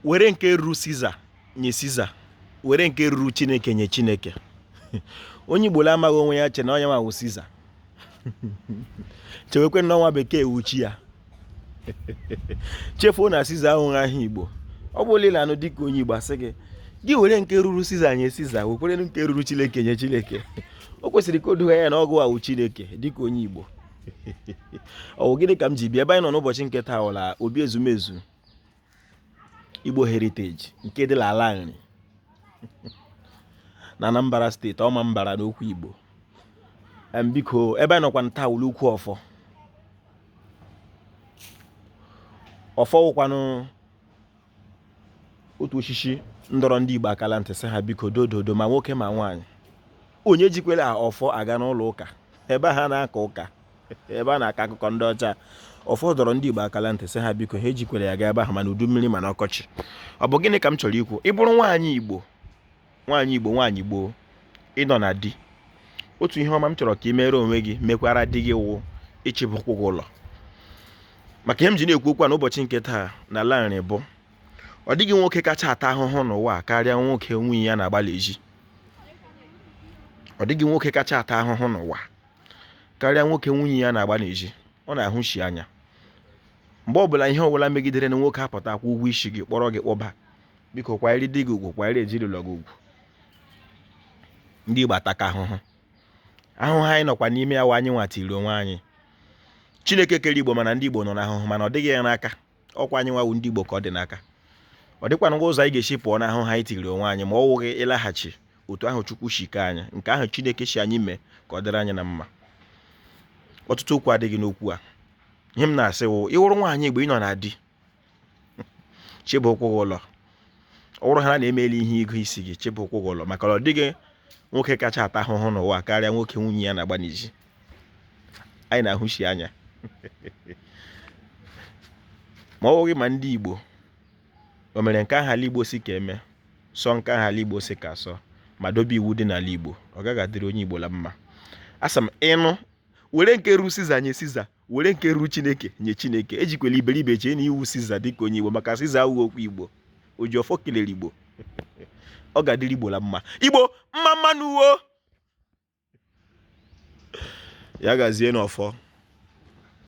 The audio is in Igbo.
were nke ruru siza nye siza were nke ruru chineke nye chineke onye igbo amaghị onwe ya che na ọ ya wụ siza chewekwe na ọ nwa bekee wụ chi ya chefuo na siza awụghị aha igbo ọ bụrụ na ị nụ dịka onye igbo asị gị gị were nke ruru siza nye siza wekwere nke ruru chineke nye chineke o kwesịrị ka o doo gị anya na ọ gị wa wụ chineke dịka onye igbo ọ bụ gịnị ka m ji bịa ebe anyị nọ n'ụbọchị nke taa la obi ezumezu Igbo Heritage nke dị n'ala nri na Anambra steeti Ọmambara n'okwu Igbo biko ebe m nọkwanụ taa wụ l'ukwu ọfọ ọfọ wụkwanụ otu osisi m dọrọ ndị Igbo aka la ntị sị ha biko dododo ma nwoke ma nwaanyị onye ejikwele ọfọ aga n'ụlọ ụka ebe ha na-aka ụka ebe a na-aka akụkọ ndị ọcha ọfọ dọrọ ndị Igbo aka la ntị sị ha biko ha ejikwele ya gaa ebe ahụ ma n'udu mmiri ma n'ọkọchị ọ bụ gịnị ka m chọrọ ikwu ị bụrụ nwaanyị Igbo nwaanyị Igbo nwaanyị gboo ị nọ na di otu ihe ọma m chọrọ ka ị mere onwe gị mekwara di gị wụ ịchịba ụkwụ gị ụlọ maka ihe m ji na-ekwu okwu a n'ụbọchị nke taa na ala nri bụ ọ dịghị nwoke kacha ata ahụhụ n'ụwa karịa nwoke nwunye ya na-agba l'ezi ọ dịghị nwoke kacha ata ahụhụ n'ụwa karịa nwoke nwunye ya na-agba n'ezi ọ na-ahụshi anya mgbe ọbụla ihe ọbụla megidere na nwoke apụta kwụọ ụgwọ isi gị kpọrọ gị kpọba biko kwanyere di gị ugwu kwanyere ezinụlọ gị ugwu ndị Igbo ataka ahụhụ ahụhụ anyị nọkwa n'ime ya wụ anyị nwa tiri onwe anyị Chineke kere Igbo mana ndị Igbo nọ n'ahụhụ mana ọ dịghị ya n'aka ọkwa anyị nwa wụ ndị Igbo ka ọ dị n'aka ọ dịkwanụghị ụzọ anyị ga-esi pụọ n'ahụhụ a anyị tiri onwe anyị ma ọ wụghị ịlaghachi otu ahụ Chukwu si kee anyị nke ahụ Chineke sị anyị mee ka ọ dịrị anyị na mma ọtụtụ okwu adịghị n'okwu a ihe m na-asị wụ ị wụrụ nwaanyị Igbo ị nọ na di chịba ụkwụ gị ụlọ ọ bụrụ ha na emeela ihe ịgụ isi gị chịba ụkwụ gị ụlọ maka na ọ dịghị nwoke kacha ata ahụhụ n'ụwa karịa nwoke nwunye ya na-agba n'ezi anyị na-ahụshi anya ma ọ bụghị ma ndị Igbo o mere nke ahụ ala Igbo sị ka e mee sọọ nke ahụ ala Igbo sị ka a sọọ ma dobe iwu dị n'ala Igbo ọ gaghị adịrị onye Igbo la mma asị m ị nụ were nke ru siza nye siza were nke ru chineke nye chineke ejikwela iberibe chee na ị wụ siza dịka onye igbo maka siza awụghị okwu igbo oji ọfọ kelere igbo ọ ga-adịrị igbo la mma igbo mma mma nụ wo ya gazie n'ọfọ